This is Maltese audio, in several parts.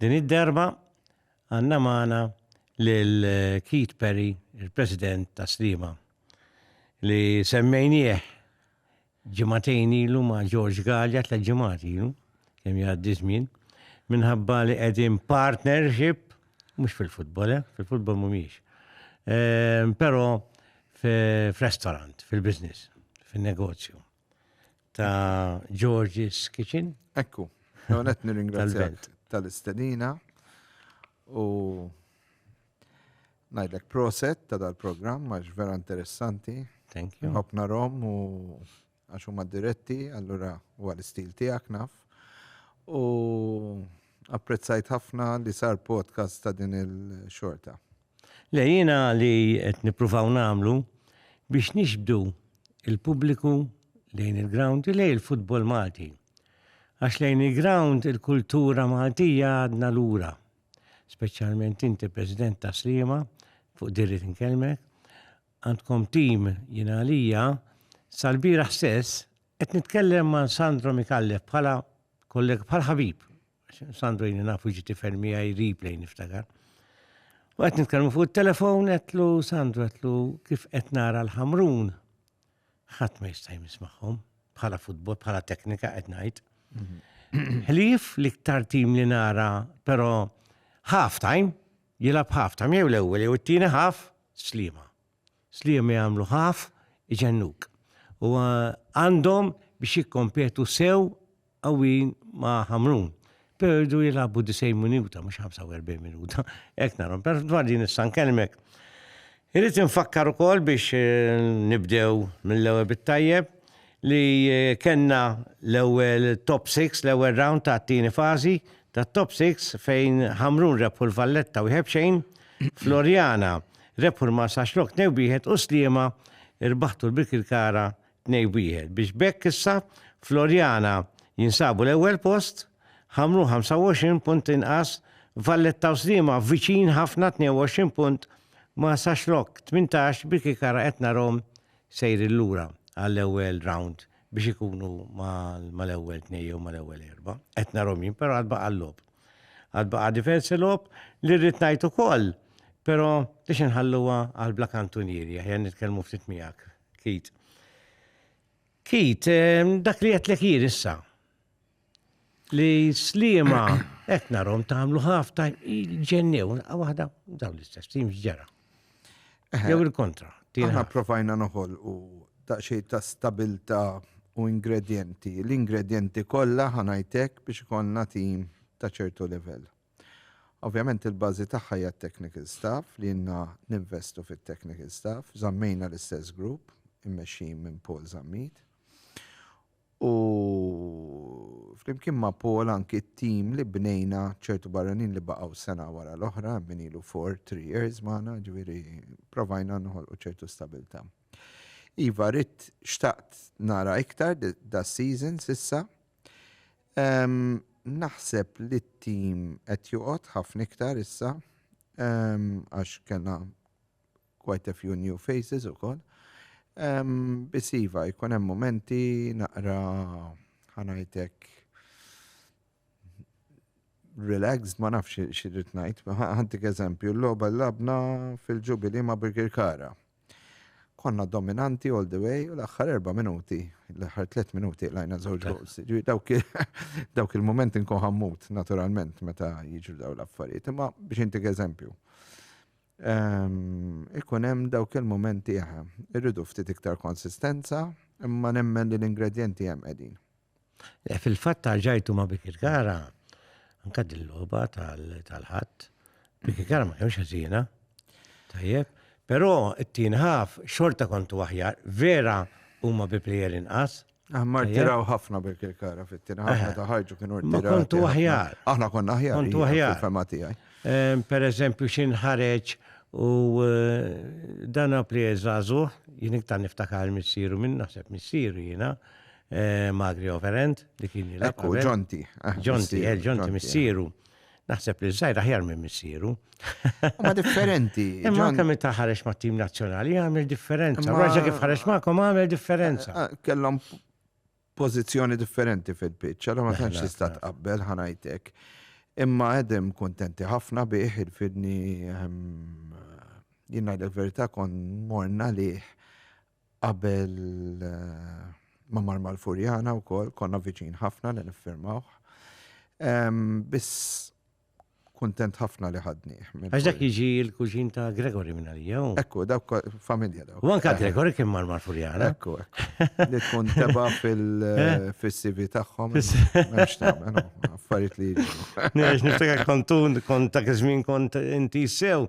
Din id-darba għandna magħna lil Keith Perry, il-President ta' Sliema, li semmejnieh ġimagħtejn ilu ma' George Galea tliet ġimgħat ilu, kemm jgħaddi żmien, minħabba li qegħdin partnership, mhux fil-futbol, eh, fil-futbol mhumiex, ehm, però f'restaurant, fil-business, fin-negozju. ta' George's Kitchen. Ekku, għonet nir-ingrazzjak tal-istedina u najdlek proset ta' dal-program, għax vera interessanti. Thank you. Hopna rom u għax huma diretti, allura u għal-istil tijak naf. U apprezzajt ħafna li sar podcast ta' din il-xorta. Le jiena li qed nippruvaw nagħmlu biex nixbdu il-pubbliku lejn il-ground u lejn il-futbol Malti. Għax lejn il-ground il-kultura Maltija għadna lura. Speċjalment inti President ta' Sliema fuq dirri tinkellmek, għandkom tim jiena għalija sal-bieraħ stess qed nitkellem ma' Sandro Mikallef bħala kollega bħal ħabib Sandro jini nafu ġiti fermi għaj replay niftakar. U għet nitkellmu fuq il-telefon, għetlu Sandro, għetlu kif għet nara l-ħamrun. ħat ma jistaj mismaħom, bħala futbol, bħala teknika għet najt. Ħlif li ktar tim li nara, pero half time, jilab half time, jew l-ewel, jew t-tini half, slima. Sliema jagħmlu ħaf iġennuk u għandhom biex jikkompetu sew qawwijin ma' Ħamrun, pero jridu jilagħbu 90 minuta mhux 45 minuta, hekk narahom. Pero dwar din issa nkellmek. Irrid infakkar ukoll biex nibdew mill-ewwel bit-tajjeb li kellna l-ewwel top six, l-ewwel round tat-tieni fażi tat-top six fejn Ħamrun rebħu l-Valletta wieħed b'xejn, Floriana Rebħu l-Marsa Xlokk tnejn b'wieħed u Sliema rbaħtu l-Birkirkara tnejn b'wieħed biex b'hekk issa Floriana jinsabu l-ewwel post, Ħamrun 25 punt inqas, Valletta u Sliema viċin ħafna 22 punt, Marsa Xlokk 18, Birkirkara qed narahom sejrin lura għall-ewwel round biex ikunu mal-ewwel tnejn jew mal-ewwel erba'. Qed narahom jien però għad baqa' l-logħob. Għad baqa' diversi logħob li rrid ngħid ukoll, però biex inħalluha għal bla kantunieri, aħjar nitkellmu ftit miegħek, Kit. Kit, ehm, dak li qed jien issa li slima qed narhom tagħmlu ħafna ġennew waħda dawn l-istess tim ġara. Jew il-kontra. Aħna provajna noħol u daqxej ta' stabilta u ingredienti. L-ingredienti kollha ħanajtek biex konna tim ta' ċertu level. Ovvjament il-bazi tagħha hija technical staff li jenna ninvestu fit-technical staff, zammejna l-istess grupp immexxin minn Paul Zammit. u flimkien ma' Paul anki t-tim li bnejna ċertu barranin li baqgħu sena wara l-oħra, hemm min ilu four, three years magħna, ġifieri provajna noħolqu ċertu stabbiltà. Iva ridt xtaqt nara iktar das-season s'issa. Naħseb li t-tim qed joqgħod ħafna iktar issa għax kellna quite a few new faces ukoll. Biss iva, jkun hemm momenti naqra ħanajtek relaxed, ma nafx xirrit ngħid, ħantik eżempju, l-logħba labna fil-ġubili ma' Birgir Kara. Konna dominanti all the way, u l-aħħar erba' minuti, l-aħħar tliet minuti lajna żewġ goals. Dawk il-momenti nkun ħammut, naturalment, meta jiġu daw l-affarijiet. Imma biex intik eżempju, Ikun hemm dawk il-mumenti eħe. Irridu ftit iktar konsistenza, imma nemmen li l-ingredjenti hemm qegħdin. Eh, fil-fatt tal-ġajtu ma' Biki Gara, anka dil-loba tal-ħadd, Biki Gara ma kienx ħażina. Tajjeb, però it-tin ħaf xorta kontu aħjar, vera huma bi plejer inqas, Ah, ma rtiraw ħafna bil kara fit-tina, ħafna ta' ħarġu kienu rtiraw. Ma kontu aħjar. Aħna konna aħjar. Kontu aħjar. Fema tijaj. Per eżempju, xin ħareġ u eh, dan għapli eżazu, jien iktar niftakar missiru minn naħseb missiru jina, eh, Magri Overend, li kien jilab. Ekku, ġonti. Ġonti, eh, ġonti missiru. Naħseb li żgħir aħjar minn missieru. Ma differenti. Imma anke minn taħarex ma' tim nazzjonali għamel differenza. Raġa kif ħarex magħkom għamel differenza. Eh, eh, kellhom pożizzjoni differenti fil-pitch, allora ma tantx tista' tqabbel ħanajtek. Imma għedem kontenti ħafna bih il-fidni ehm, jien ngħidlek verità kon morna liħ Qabel ma mar mal-Furjana wkoll konna viċin ħafna li niffirmawh. Biss kuntent ħafna li ħadni. Għax dak jiġi l-kuġin ta' Gregory minn għalija. Ekku, dak familja daw. U anka Gregory kien mar mal-Furjana. Ekku, ekku. Li tkun teba fil-CV tagħhom. Mhux tagħmel, affarijiet li jiġu. Niftakar kontun kont ta' kizmin kont inti sew.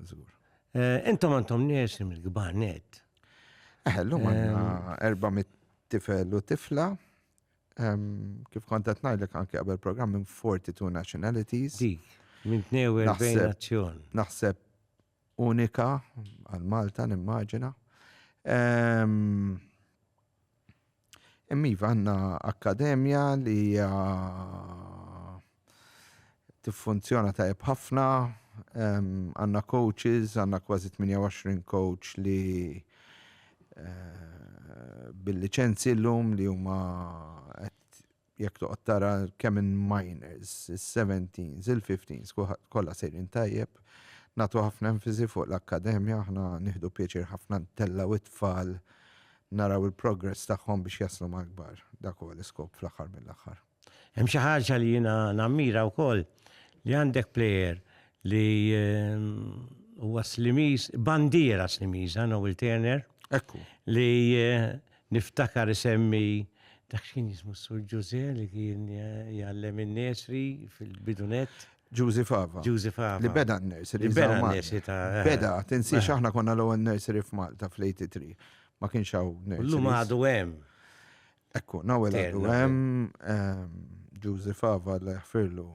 Żgur. Eh, intom għandhom nirsim il-kbar net. Eh, l-lum għandna 400 eh, tifel u tifla. Kif kontat ngħidlek anke qabel programm minn 42 nationalities. Dik, minn 42 nazzjon. Naħseb unika għal Malta nimmaġina. Hemm iva għandna akkademja li hija tiffunzjona tajjeb ħafna, għandna coaches, għandna kważi 28 coach li eh, bil-liċenzi llum li huma jekk toqgħod tara kemm in minors, is-seventeens, il-fifteens, kulħadd kollha sejrin tajjeb. Nagħtu ħafna enfasi fuq l-akkademja, aħna nieħdu pjaċir ħafna ntellgħu t-tfal naraw il-progress tagħhom biex jaslu mal-kbar. Dak huwa l-iskop fl-aħħar mill-aħħar. Hemm xi ħaġa li jiena nammira wkoll li għandek plejer li huwa Slimiż, bandiera Slimiża, Noel Turner, li Niftakar isemmi dak x'kien jismu s-Sur Ġużè li kien jgħallem in-nursery fil-bidu nett. Ġużi Fava. Ġużi Fava. Li beda n-nursery. Li beda n-nursery ta'. Beda, tinsiex aħna konna l-ewwel nursery f'Malta fl-83. Ma kienx hawn nursery. Illum għadu hemm. Ekku, nawel għadu hemm. Ġużi Fava Alla jaħfirlu.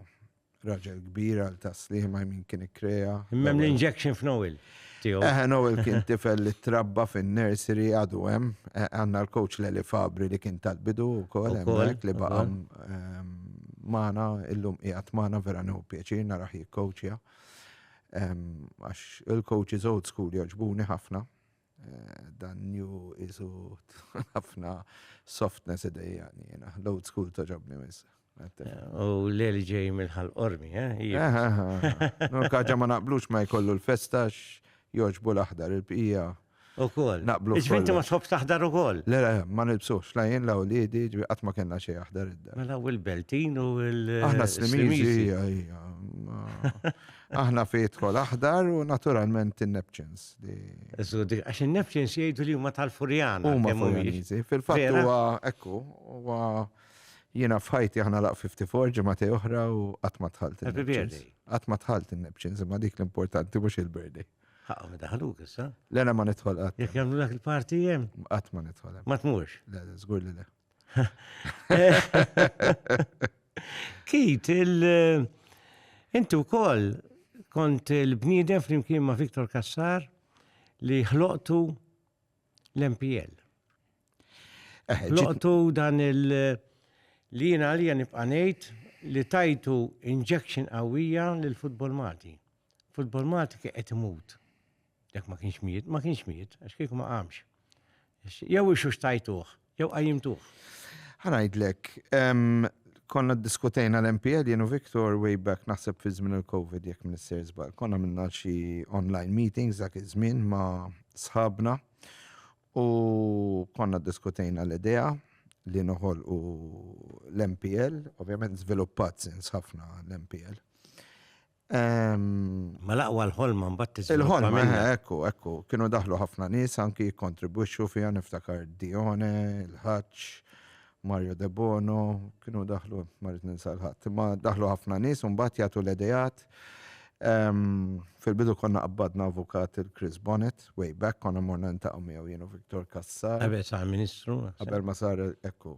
Raġel kbir għal ta' sliema jmin kien ikkrea. Imma hemm l-injection f'Noel tiegħu. Eħe, Noel kien tifel li trabba fin-nursery għadu hemm. Għandna l-coach Leli Fabri li kien tal-bidu wkoll hemmhekk li baqa' magħna illum qiegħed magħna vera nieħu pjaċir narah jikkoċja. Għax il-coaches old school jogħġbuni ħafna. Dan new qisu tfal ħafna softness idejjaqni jiena. L-old school togħġobni wisq. U l-eli ġej minn ħal qormi, eh? Nur kaġa ma naqblux ma jkollu l-festa jogħġbu l-aħdar il-bqija. U koll. Naqblu. Iġbinti ma tħobbx taħdar u koll. Le, le, ma nilbsux, la jien la u li di, ġbi qatt ma kellna xejn aħdar id-dar. Mela u l-beltin u l- Aħna s-slimizi, ija, ija. Aħna fi dħol aħdar u naturalment in-Neptunes. Għax in-Neptunes jgħidu li huma tal-Furjana. Huma Furjaniżi. Fil-fatt huwa ekku, huwa jiena f'ħajti aħna laq 54 ġimgħati oħra u qatt ma tħalt. Happy birthday. Qatt ma tħalt in-Neptunes imma dik l-importanti mhux il-birthday. Ħaqqa ma daħluk issa. Lena ma nidħol qatt. Jekk jagħmlu dak il-parti hemm? Qatt ma nidħol hemm. Ma tmux? Le, żgur li le. Kit, il- inti wkoll kont il-bniedem flimkien ma' Viktor Kassar li ħloqtu l-MPL. Eh, ġi- Ħloqtu dan il- li jien għalija nibqa' ngħid li tajtu injection qawwija lill futbol Malti. Futbol Malti kien qed imut. Jekk ma kienx miet, ma kienx miet, għax kieku ma qamx. Jew ixux tajtuħ, jew qajjimtuħ. Ħanajdlek, konna diskutejna l-MPL jenu Viktor way back naħseb fi żmien il-Covid jekk minn s-ser żbal. Konna minna xi online meetings dak iż-żmien ma' sħabna u konna diskutejna l-idea li noħol u l-MPL, ovvjament żviluppat sens ħafna l-MPL. Ma laqwa l-ħolma mbagħad tiżviluppa. Il-ħolma, minna. eh, ekku, ekku. Kienu daħlu ħafna nies anki jikkontribwixxu fiha niftakar Dione, il-Ħaġġ, Mario De Bono, kienu daħlu, ma rrid ninsa l-ħadd, imma daħlu ħafna nies u mbagħad jagħtu l-idejat. Ehm, Fil-bidu konna qabbadna avukat il-Chris Bonnet, way back, konna morna ntaqgħu miegħu jien u Viktor Kassar, Qabel sa' ministru. qabel ma sar ekku.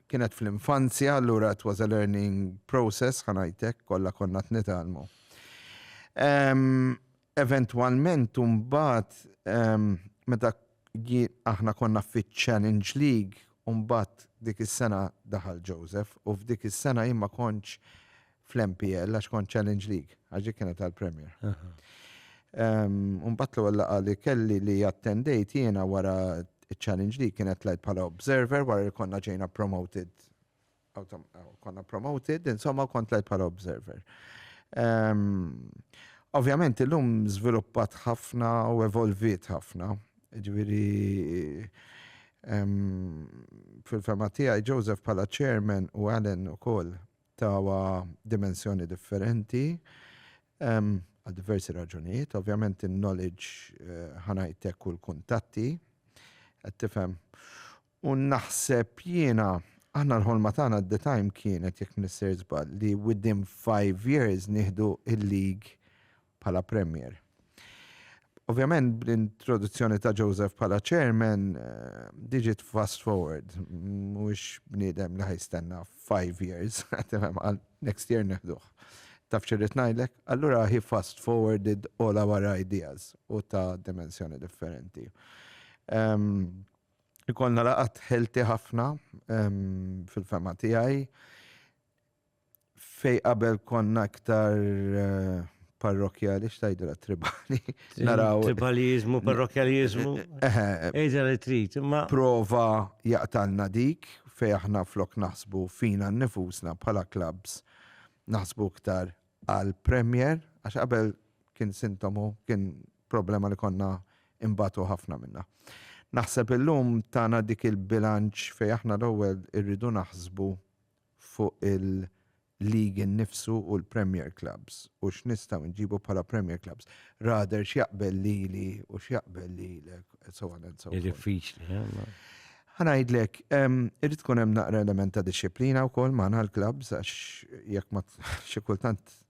kienet fl-infanzja, allura it was a learning process, ħanajtek, kollha konna t-nitalmu. Eventualment, umbat, meta aħna konna fit Challenge League, umbat dik is-sena daħal Joseph, u f'dik is-sena jimma konċ fl-MPL għax kont Challenge League, għax dik kienet għall-Premier. Mbagħad l-ewwel laqgħa li kelli li attendejt jiena wara ċ-Challenge League kienet tlajt bħala observer wara li konna ġejna promoted. Konna promoted, insomma kont tlajt bħala observer. Ovvjament illum żviluppat ħafna u evolviet ħafna. Ġifieri fil-fema tiegħi Joseph bħala chairman u Alan ukoll Tawha dimensjoni differenti għal diversi raġunijiet. Ovvjament in-knowledge ħa ngħid hekk u l-kuntatti qed tifhem. U naħseb jiena aħna l-ħolma tagħna at the time kienet jekk mnisser żball li within five years nieħdu il-league bħala Premier. Ovvjament bl-introduzzjoni ta' Joseph bħala Chairman diġit fast forward, mhuwiex bniedem li ħajstenna 5 years, għal next year neħduh. Taf xirrid ngħidlek? Allura he fast forwarded all our ideas u ta' dimensjoni differenti. Ikollna laqgħat ħelti ħafna fil-fehma tiegħi. Fejn qabel konna iktar parrokjali, xtajdra tribali. Naraw. Tribalizmu, parrokjalizmu. Eħe. li trit, imma. Prova jaqtalna dik fej aħna flok naħsbu fina nifusna bħala klabs naħsbu iktar għal Premier, għax qabel kien sintomu, kien problema li konna imbatu ħafna minna. Naħseb illum tana dik il-bilanċ fej aħna l-ewwel irridu naħsbu fuq il-league innifsu u l-Premier Clubs u x'nistgħu nġibu bħala Premier Clubs. Rather x'jaqbel lili u x'jaqbel lilek, and so on and so forth. Hi diffiċli, ħa? Ħa ngħidlek, irid tkun hemm naqra element ta' dixxiplina wkoll magħna l-clubs għax jekk ma xi kultant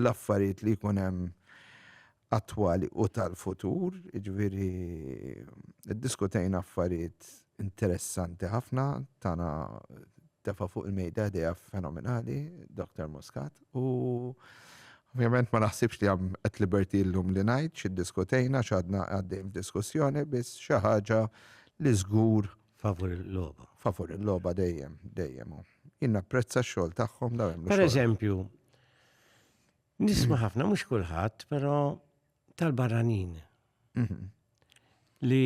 l-affarijiet li jkun hemm attwali u tal-futur, jiġifieri iddiskutejna affarijiet interessanti ħafna, tana tefa' fuq il-mejda idea fenomenali, Dr. Muscat, u ovvjament ma naħsibx li għam at liberty llum li ngħid x'iddiskutejna x'għadna għaddejn f'diskussjoni biss xi ħaġa li żgur Favur il-loba. Favur il-loba dejjem, dejjem. Jien napprezza x-xogħol tagħhom daw hemm. Per eżempju, nisma' ħafna mhux kulħadd, però tal-barranin. Mhm. Li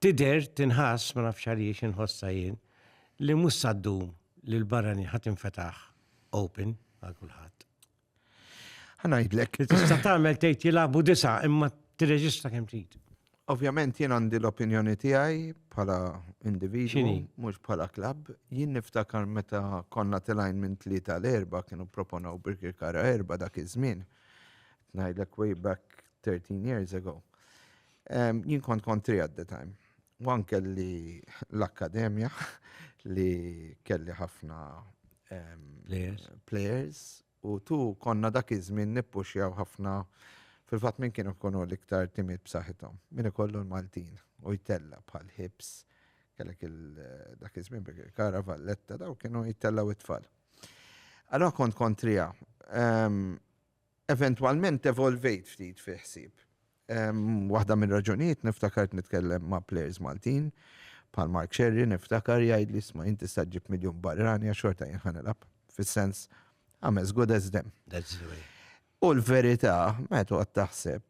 tider tinħass ma nafx għaliex inħossa jien li mhux saddum li l-barranin ħadd infetaħ open għal kulħadd. Ħanajdlek. Tista' tagħmel tgħid jilagħbu disa' imma tirreġista kemm trid. Ovvjament jien għandi l-opinjoni tiegħi bħala individu, mhux bħala klabb. Jien niftakar meta konna tilajn minn tlieta l erba kienu proponaw Birkir Kara erba dak iż-żmien. Ngħidlek way back 13 years ago. Jien kont kontri at the time. Wan kelli l-akkademja li kelli ħafna players u tu konna dak iż-żmien nippuxjaw ħafna fil-fatt minn kienu kunu l-iktar timid b'saħħithom. Min ikollu l-Maltin u jtella bħal ħibs kellek dak iż-żmien kara valletta daw kienu jtellaw it-tfal. Allora kont kontrija. Eventwalment evolvejt ftit fil-ħsieb. Waħda mir-raġunijiet niftakart nitkellem ma' plejers Maltin, bħal Mark Scerri niftakar jgħidli isma' int tista' ġġib miljun barrani għax xorta jien ħa nilgħab, fis-sens I'm as good as them. U l-verità meta toqgħod taħseb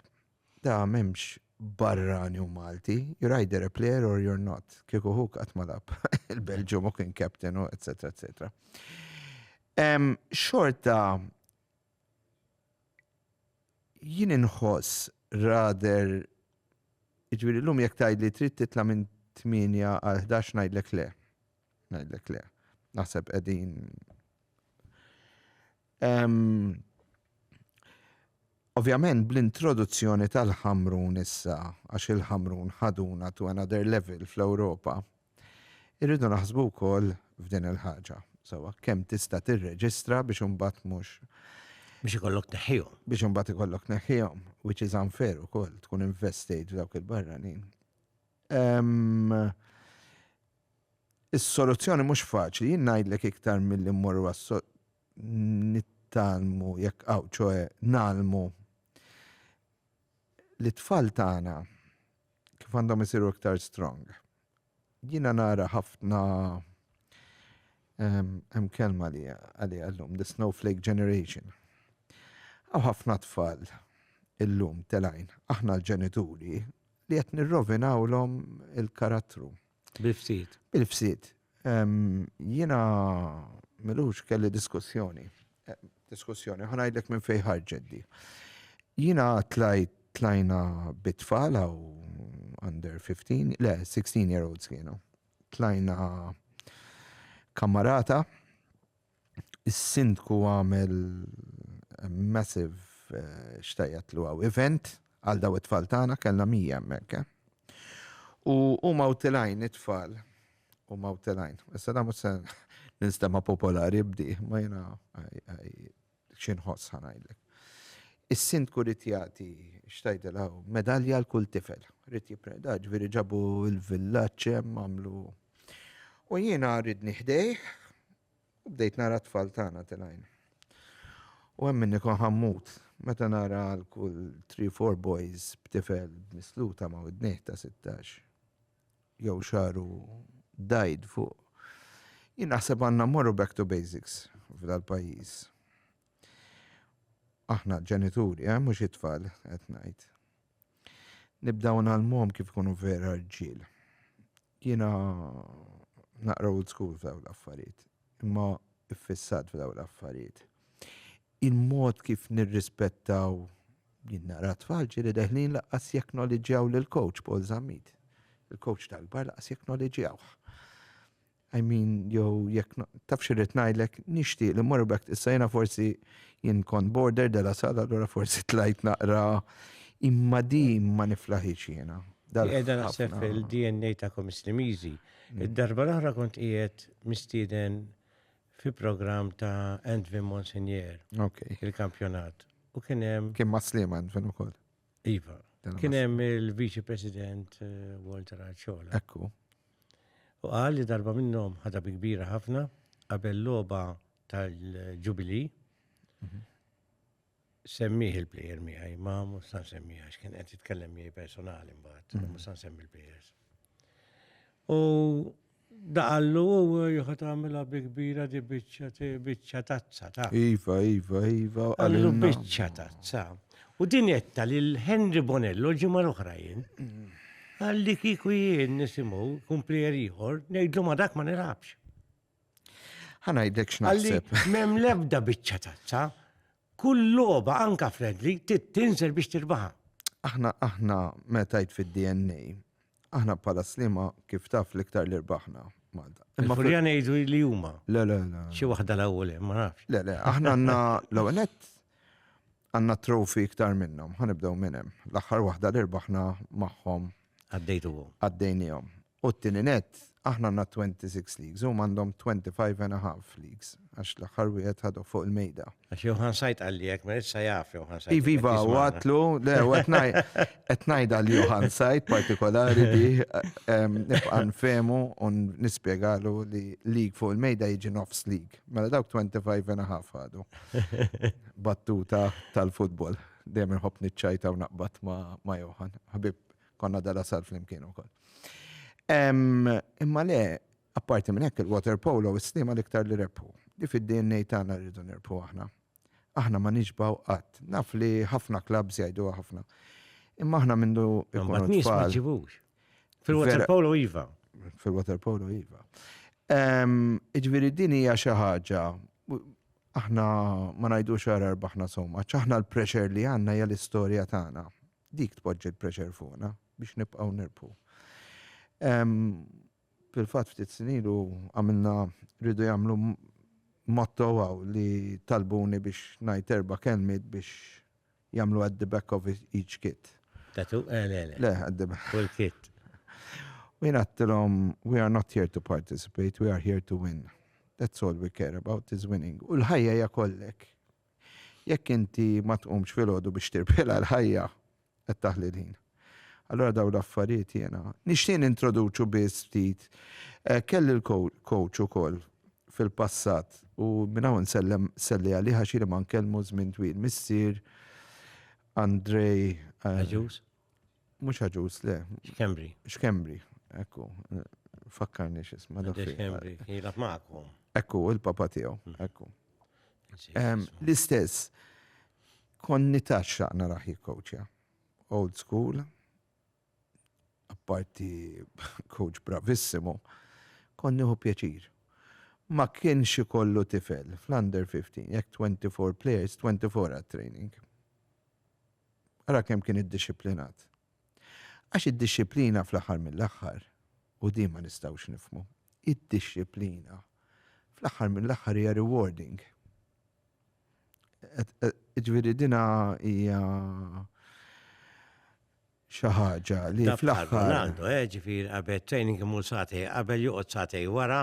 ta' m'hemmx barrani u Malti, you're either a player or you're not. Kieku hu qatt ma lagħab il-Belġium u kien captain u etc etc. Xorta Jien inħoss rather jiġifieri llum jekk tgħidli trid titla' minn tmienja għal ħdax ngħidlek le. Ngħidlek le. Naħseb qegħdin Ovvjament bl-introduzzjoni tal-ħamrun issa, għax il-ħamrun ħaduna to another level fl-Ewropa, Irridu naħsbu wkoll f'din il-ħaġa, sewwa, kemm tista' tirreġistra biex imbagħad mhux. Biex ikollok tneħħihom. Biex imbagħad ikollok tneħħihom, which is unfair ukoll, tkun investejt f'dawk il-barranin. Is-soluzzjoni mhux faċli, jien ngħidlek iktar milli mmorru għas nittalmu jekk hawn ċoe nagħlmu li tfal tagħna kif għandhom isiru iktar strong. Jina nara ħafna hemm kelma li għalli għallum, the snowflake generation. Għaw ħafna tfal illum telajn, aħna l-ġenituri li qed nirrovinawlhom il-karattru. Bil-ftit. Bil-ftit. Jiena milux kelli diskussjoni. Eh, diskussjoni, ħanajdlek minn fej ħarġeddi. Jiena tlajt tlajna bitfal għaw under 15, le, 16 year olds kienu. Tlajna kamarata, Is-Sindku għamel massive eh, xtajjat lu għaw event għal daw it-tfal tagħna kellna mija hemmhekk. Eh. U huma utilajn it-tfal u ma utilajn. Issa da mhux se ninstema' popolari bdi, ma jiena xi nħoss ħa ngħidlek. Is-Sindku rid jagħti x'tgħidilha hu, medalja għal kull tifel. Rid jippreda, ġifieri ġabu l-villaġġ hemm għamlu. U jiena ridni ħdejh u bdejt nara t-tfal tagħna tilgħin. U hemm minni kon ħammut, meta nara għal kull 3-4 boys b'tifel misluta ma' widnih ta' 16. jew xaru dajd fuq. Jien naħseb għandna morru back to basics f'dal pajjiż. Aħna ġenituri, eh, mhux it-tfal qed ngħid. Nibdaw nagħlmuhom kif ikunu vera rġiel. Jiena naqra old school f'daw l-affarijiet, imma iffissat f'daw l-affarijiet. Il-mod kif nirrispettaw jien nara t-tfal ġieli deħlin lanqas jekknoliġġjaw lill-coach Paul Zammit. Il-coach tal-kbar lanqas jekknoliġġjawh. I mean, jew jekk taf xi rrid ngħidlek, nixtieq li mmorru back issa jiena forsi jien kont border della sala allura forsi tlajt naqra imma din ma niflaħix jiena. Qiegħda naħseb fil-DNA tagħkom Islimiżi. Id-darba l-oħra kont qiegħed mistieden fi programm ta' Antvin Monsignor. Ok. Il-kampjonat. U kien hemm. Kien ma' Slima Antvin ukoll. Iva. Kien hemm il-Viċi President eh, Walter Arċola. Ekku. U qal li darba minnhom ħadha bi kbira ħafna qabel logħba tal-Ġubili. Mhm. Semmih il-plejer miegħi, ma mhux san semmi għax kien qed jitkellem miegħi personali mbagħad, mm. mhux san semmi l-plejers. U daqallu u jħu tagħmilha bi kbira di biċċa tazza ta'. Iva, iva, iva. Għallu biċċa tazza. U din jetta li l-Henry Bonello ġimgħa l-oħra jien. Mm. Għalli kiku jien nisimgħu kun plejer ieħor, ngħidlu ma dak ma nilabx. Ħanajdlek x'naħseb. Mem lebda biċċa tazza, kull loba anka fredli tinżel biex tirbaħa. Aħna aħna metajt fid-DNA. Aħna bħala slima kif taf l-iktar li rbaħna. Imma fil jgħidu li huma. Le, le, le. Xi waħda l-ewwel ma nafx. Le, le, aħna għandna l-ewwel nett għandna trofi iktar minnhom, ħanibdew minn hemm. L-aħħar waħda li rbaħna magħhom. Għaddejtuhom. Għaddejnihom. U t-tieni nett, aħna għandna twenty six leagues, huma għandhom twenty five and a half leagues, għax l-aħħar wieħed ħaduh fuq il-mejda. Għax Johan Said qalli hekk, ma issa jaf Johan Said. Iva, iva, u għatlu, le, u qed ngħidha l Johan Said partikolari li nibqa' nfehmu u nispjegalu li league fuq il-mejda jiġi nofs league. Mela dawk 25 and a half għadu. Battuta tal-futbol. Dejjem inħobb niċċajta u naqbad ma' Johan. Ħabib Konna dala sal flimkien ukoll. Imma le, apparti minn hekk il-water polo s-slima l-iktar li rebħu. Li fid-DNA tagħna rridu nirbħu aħna. Aħna ma nixbaw qatt. Naf li ħafna klabs jgħidu ħafna. Imma aħna mindu ikunu tfal. Fil-water polo iva. Fil-water polo iva. Iġviri din hija xi ħaġa aħna ma ngħidux ara rbaħna somma, aħna l-pressure li għandna hija l-istorja tagħna. Dik tpoġġi l-pressure fuqna biex nibqgħu nirbħu. Fil-fatt ftit snin ilu għamilna rridu jagħmlu motto għaw li talbuni biex ngħid erba' kelmiet biex jagħmlu at the back of each kit. Tatu, eh, le, le. Le, at the back. Full kit. U jien għattilhom, we are not here to participate, we are here to win. That's all we care about is winning. U l-ħajja hija kollek. Jekk inti ma tqumx filgħodu biex tirpilha l-ħajja qed taħli l-ħin. Allura dawn l-affarijiet jiena nixtieq nintroduċu biss ftit. Eh, kelli l-coach ukoll fil-passat u minn hawn sellem selli għalih għax jiena ma nkellmu żmien twil missier Andrej eh, Aġus. Mhux ħaġuż le. X'Kembri. X'Kembri, ekku. Fakkarni x'isma' dak. X'Kembri, jilgħab magħkom. Ekku, il-papa tiegħu, mm. ekku. L-istess, konni taxxa naraħ jikkowċja. Old school, apparti coach bravissimo, konni hu pjaċir ma kienx ikollu tifel fl-under 15, jekk 24 players, 24 għat training. Ara kemm kien iddixxiplinat. Għax id-dixxiplina fl-aħħar mill-aħħar, u din ma nistgħux nifhmu, id-dixxiplina fl-aħħar mill-aħħar hija rewarding. Ġifieri dina hija xi ħaġa li fl-aħħar. Ronaldo, eh, ġifier qabel training imur sagħtej qabel joqgħod sagħtej wara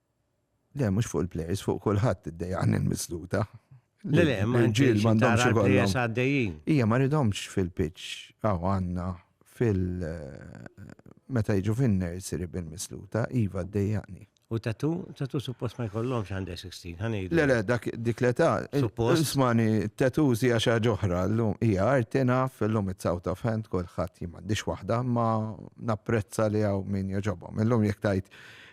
Le, mhux fuq il-plejers, fuq kulħadd iddejjaqni l-misluta. Le, le, ma ġiel m'għandhomx ikollhom. għaddejjin. Hija ma ridhomx fil-pitch, aw għandna fil meta jiġu fin-nursery bil-misluta, iva ddejjaqni. U tatu, tatu suppost ma jkollhomx għandha 16, ħanejdu. Le, le, dak dik l-età. Suppost. Ismani, tatu hija xi ħaġa oħra, llum hija arti naf, illum it's out of hand, kulħadd jien m'għandix waħda, ma napprezza li hawn min jogħġobhom. Illum jekk tajt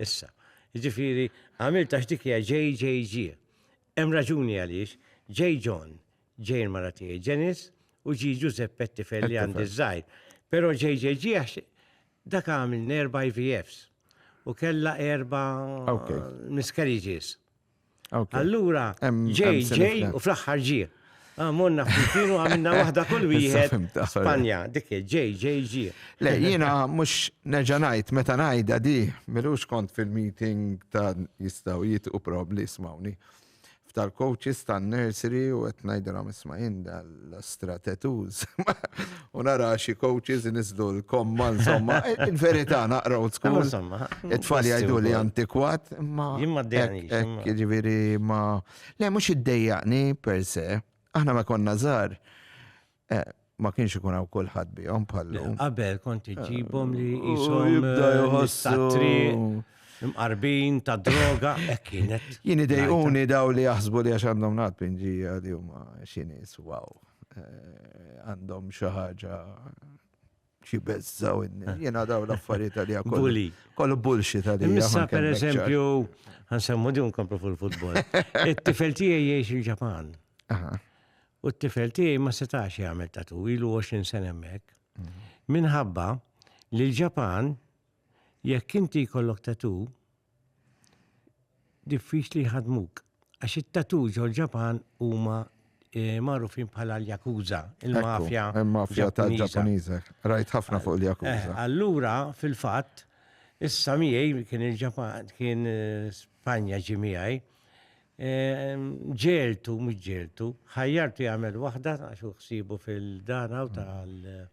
Issa. Jiġifieri, għamilt għax dik hija JJG. Hemm raġuni għaliex J. John, J. il-mara tiegħi Ġenis, u G. Ġużepp Ettifel li għandi żgħir. Però JJG għax dak għamil nerba IVFs u kellha erba miscarriages. Allura, ġej, ġej, u fl-axħar ġie. Ah, monna f'kienu għamilna wahda kull wieħed Spanja, dik ġej, ġej, ġie. Le, jina mux neġanajt, meta najda di, milux kont fil-meeting ta' jistaw jitqu probli, smawni. F'tal-coaches, tal-nursery, u għet najdra misma jinda l-astra tattoos. U nara xi coaches nisdu l-komma, insomma, il-verità naqra u tkun. Insomma, it-tfal jgħidu li antikwat, ma. Jimma d-dejni. Ġiviri, ma. Le, mux id-dejjaqni per se, aħna ma konna zar. Eh, ma kienx ikun hawn kulħadd bihom bħallu. Qabel kont iġibhom li eh, jishom eh, jibda jħossu. Imqarbin ta' droga, hekk kienet. Jien idejquni daw li jaħsbu li għax għandhom nat pinġija li huma xinis, wow. Eh, għandhom xi ħaġa xi beżżaw eh. jiena daw l-affarijiet li kollu. Kollu bullxi tal Issa per eżempju, ħansemmu di nkomplu fil-futbol. It-tifel tiegħi jgħix il-Ġapan. U t-tifel tiegħi ma setax jagħmel tatu ilu 20 sena hemmhekk. Mhm. Minħabba li l-Ġapan Jekk inti jkollok tatoo, diffiċli jħaddmuk, għax it-tatoo ġol-Ġapan huma magħrufin bħala l-yakuza, il-mafja. Il-mafja tal-Ġappuniża. Rajt ħafna fuq il-yakuza. Eh, allura, fil-fatt, issa miegħi kien il-Ġapan, kien eh, Spanja ġi miegħi, ehm, ġeltu, mhux ġeltu, ħajjartu jagħmel waħda għax ħsibu fil-dana u tal-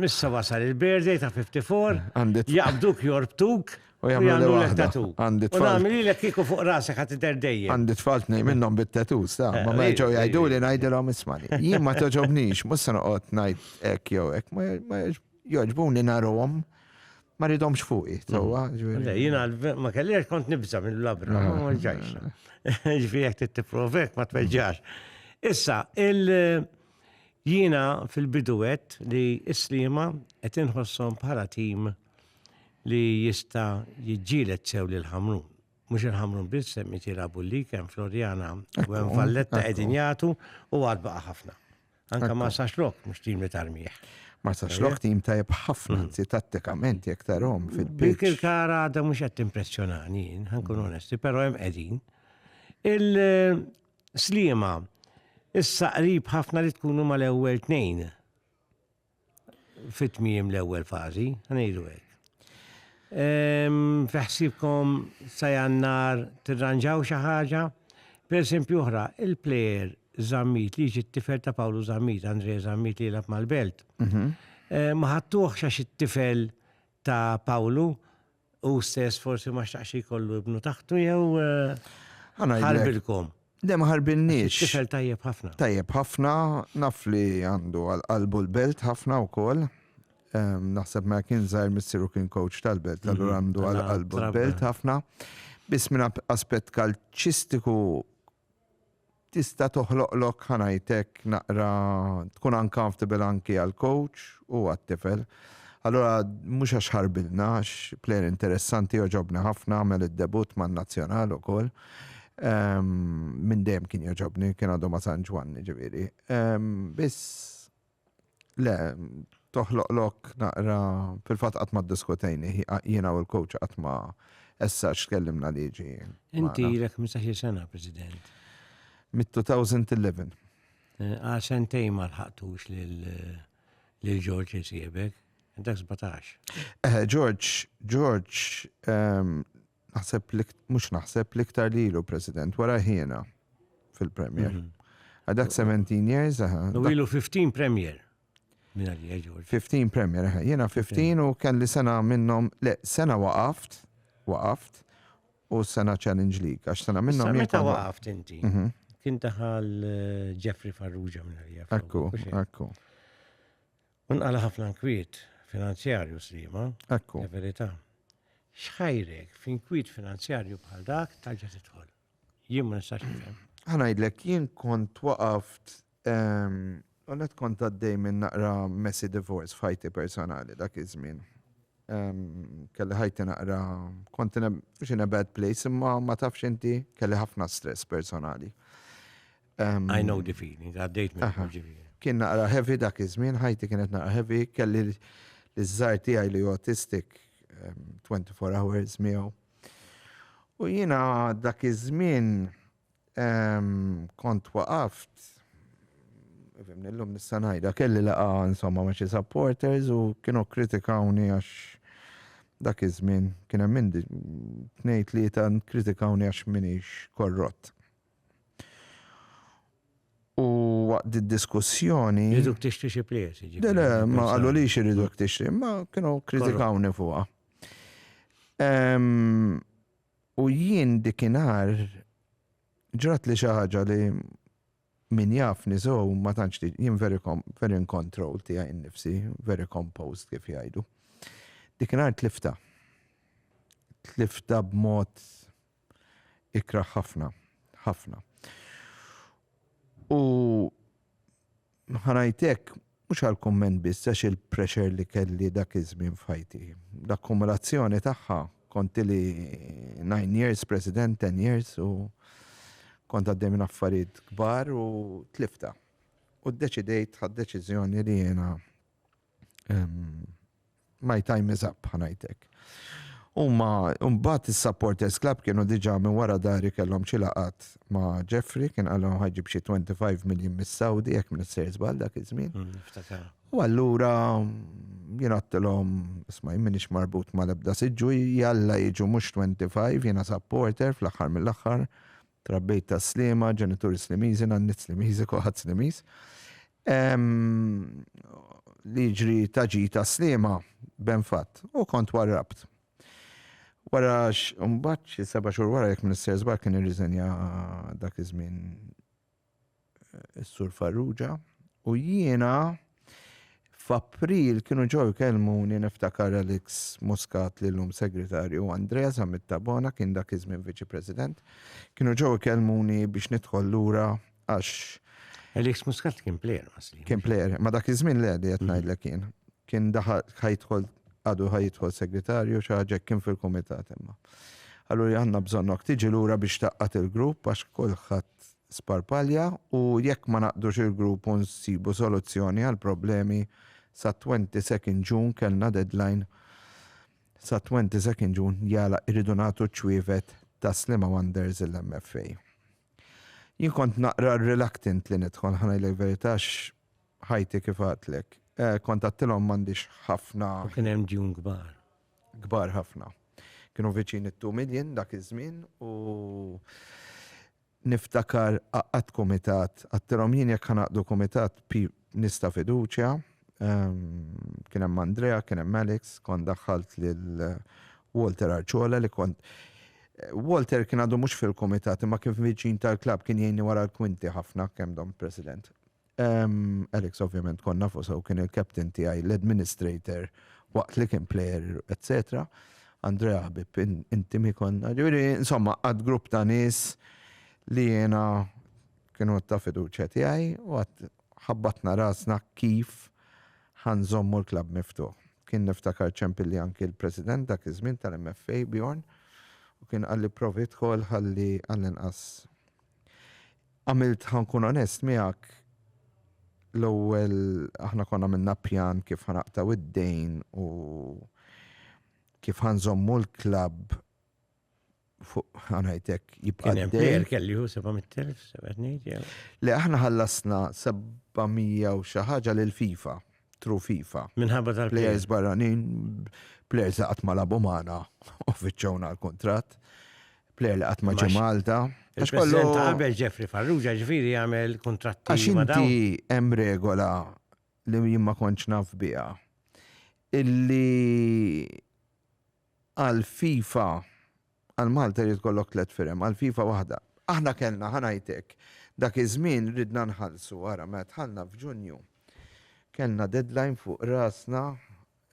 Missa eh, wasal il-birthday ta' 54. Jaqbduk jorbtuk. U jagħmlu l tatu. Għandi tfal. U nagħmel lilek kieku fuq rasek ħadd idher dejjem. Għandi tfal tnejn minnhom bit-tatu, sta. Eh, ma meġgħu eh, jgħidu li ngħidilhom ismani. Jien ma toġobnix, mhux se noqgħod ngħid hekk jew hekk, ma jogħġbuni narhom ma ridhomx fuqi. Mm. Jiena ma kellix kont nibża mill-labra, ah. ma ġajx. Ġifieri jekk tittipprovek ma tweġġax. Issa, il- Jiena fil-bidu għedt li s-Sliema qed inħosshom bħala tim li jista' jiġġieled sew lil Ħamrun. Mhux il-Ħamrun biss hemm qed jilagħbu l-lig hemm Floriana u hemm Valletta qegħdin jagħtu u għad baqa' ħafna. Anke ma sax lok mhux tim li tarmih. Ma sax lok tim tajjeb ħafna hmm. anzi tattikament jekk tarhom fil-biċ. Dik il-kara għadha mhux qed timpressjonani, ħankun hmm. onesti, però hemm qegħdin. Sliema, issa qrib ħafna li tkunu mal-ewwel tnejn fit-tmiem l-ewwel fażi, ngħidu hekk. Fiħsibkom sa jannar tirranġaw xi ħaġa? Per esempio oħra, il-plejer Zammit li ġi t-tifel ta' Pawlu Zammit, Andre Zammit li jilab mal-belt. Mhm. Eh, ma ħattuħx għax it-tifel ta' Pawlu Hu stess forsi ma xtaqx jkollu ibnu taħtu jew ħarbilkom. Le ma ħarbilniex. Tifel tajjeb ħafna. Tajjeb ħafna, naf li għandu għal qalbu l-belt ħafna wkoll. Ehm, naħseb ma kien żgħir missieru kien coach tal-belt, mhm. allura għandu għal qalbu l-belt ħafna. Biss minn aspett kalċistiku tista' toħloqlok, ħa ngħid hekk, naqra tkun uncomfortable anki għall-coach u għat-tifel. Allura mhux għax ħarbilna, għax plejer interessanti jogħġobni ħafna, għamel id-debutt man-nazzjonal ukoll. Minn dejjem kien jogħġobni, kien għadu ma' San Ġwann, jiġifieri. Biss Le, toħloq lok naqra, fil-fatt qatt ma ddiskutejni, jiena u l-coach qatt ma essax tkellimna li jiġi. Inti ilek 15 sena, President. Mit-2011. Eh, għal sentej ma lħaqtux lil George jisibek, dak 17. Eh, George, George, ehm, Naħseb li mhux naħseb li iktar li ilu President wara ħiena fil-Premier. Mhm. Għadak 17 years, aha. U ilu 15 Premier. 15 Premier, aha. Jiena 15 u kelli sena minnhom, le, sena waqaft, waqaft, u sena Challenge League, għax sena minnhom. Meta waqaft inti? Mhm. Kien taħal eh, Jeffrey Farrugia minn Akku, akku. U nqala' ħafna nkwiet finanzjarju Sliema. Ekku. Verità. X'ħajrek f'inkwiet finanzjarju bħal dak tarġa' tidħol? Jien ma nistax nifhem. Ħa ngħidlek, jien kont waqaft, kont kont għaddej minn naqra messy divorce f'ħajti personali dak iż-żmien. Kelli ħajti naqra, kont in a bad place imma ma tafx inti kelli ħafna stress personali. I know the feeling, għaddejt minn ġifieri. Kien naqra heavy dak iż-żmien, ħajti kienet naqra heavy, kelli l-żar tiegħi li autistic 24 hours miegħu. U jiena dak iż-żmien kont waqaft Fim, nillum nissanajda, kelli laqa insomma ma' xi supporters u kienu kritikawni għax dak iż-żmien kien hemm minn tnejn tlieta kritikawni għax minix korrott. U waqt id-diskussjoni. Jriduk tixtri xi plejers. Le, le, ma qalulix iriduk tixtri, ma kienu kritikawni fuqha. U jien dikinhar ġrat li xi ħaġa li min jaf niżgħu ma tantx jien very in control tiegħi nnifsi, very composed kif jgħidu. Dikinhar tlifta. Tlifta b'mod. ikrah ħafna, ħafna. U ħanajtek, mux għal-komment biss, għax il-pressure li kelli dak iż-żmien f'ħajti. L-akkumulazzjoni tagħha kont li 9 years president, 10 years u kont għaddej minn affarijiet kbar u tlifta. U d-deċidejt ħad deċiżjoni li jena My time is up, ħanajtek. Umma, umbat il-supporters club kienu diġa minn wara dari kellhom ċilaqat ma' Jeffrey, kien għallhom ħagġib xie 25 miljon mis-Saudi, jek minn s-sejr zbal dak iż-żmien. Mm, u allura jien għattilom, isma' minix marbut ma' lebda siġu, jalla jiġu mux 25, jiena supporter fl-axar mill-axar, Trabbejt ta' Sliema, ġenituri Slimiżi, nanniet Slimiżi, kulħadd Slimiż. Li jiġri ta' ġid ta' Sliema, ben fatt, u kont warrabt. Wara mbagħad xi seba' xhur wara jekk m'nistersbax kien irriżenja dak iż-żmien is-Sur Farrugia, u jiena f'April kienu ġew ikellmuni niftakar Alex Muscat li llum Segretarju u Andrea Zammit Tabona kien dak iż-żmien Viċi President. Kienu ġew ikellmuni biex nidħol lura għax Alex Muscat kien plejer masli. Kien plejer, ma dak iż-żmien le li qed mm. ngħidlek kien. Kien daħal ħajtħol għadu ħajtħol segretarju xi ħaġa kien fil-kumitat imma. Allura għandna bżonnok tiġi lura biex taqqat il-grupp għax kulħadd sparpalja u jekk ma naqdux il-grupp u nsibu soluzzjoni għall-problemi sa 22nd June kellna deadline sa 22nd June jala irridu nagħtu ċ-ċwievet ta' Sliema Wonders il-MFA. Jien kont naqra reluctant li nidħol ħa ngħidlek verità għax ħajti kif għadtlek. Kont għadtilhom m'għandix ħafna. U kien hemm djun kbar. kbar ħafna. Kienu viċin it-two million dak iż-żmien u niftakar għaqqadt kumitat, għadtilhom jien jekk ħanaqdu kumitat nies ta' fiduċja, kien hemm Andrea, kien hemm Alex, kont daħħalt lil Walter Arciola li kont Walter kien għadu mhux fil-kumitat imma kien viċin tal-klabb kien jgħinni wara l-kwinti ħafna kemm dom President. Alex ovvjament kont nafu sew kien il-captain tiegħi, l-administrator waqt li kien player, etc. Andrea ħbib intimi konna, ġifieri insomma għad grupp ta' nies li jiena kienu ta' fiduċja tiegħi u għad ħabbatna rasna kif ħanżommu l-klab miftuħ. Kien niftakar ċempilli anki l-President dak iż-żmien tal-MFA Bjorn u kien qalli provi dħol ħalli għall-inqas Għamilt ħa nkun onest miegħek, l-ewwel aħna konna għamilna pjan kif ħa naqtgħu d-dejn u kif ħa nżommu l-klabb fuq ħanajtek jibqa' Kien hemm dejn. plejer kelli hu 700,000, sebgħet ngħid jew. Li aħna ħallasna 700 u xi ħaġa lil FIFA. True FIFA. Minħabba tal Plejers barranin, plejers li qatt ma labu magħna u fiċċewna l-kuntratt, plejer li qatt ma ġie Malta. Il-President qabel Jeffrey Farrugia ġifieri jagħmel kuntratti Għax inti hemm regola li jien ma kontx naf biha illi Għal FIFA, għal Malta jrid ikollok tliet firem, għal FIFA waħda. Aħna kellna, ħa ngħidlek, dak iż-żmien ridna nħallsu, ara, meta dħalna f'Ġunju, kellna deadline fuq rasna,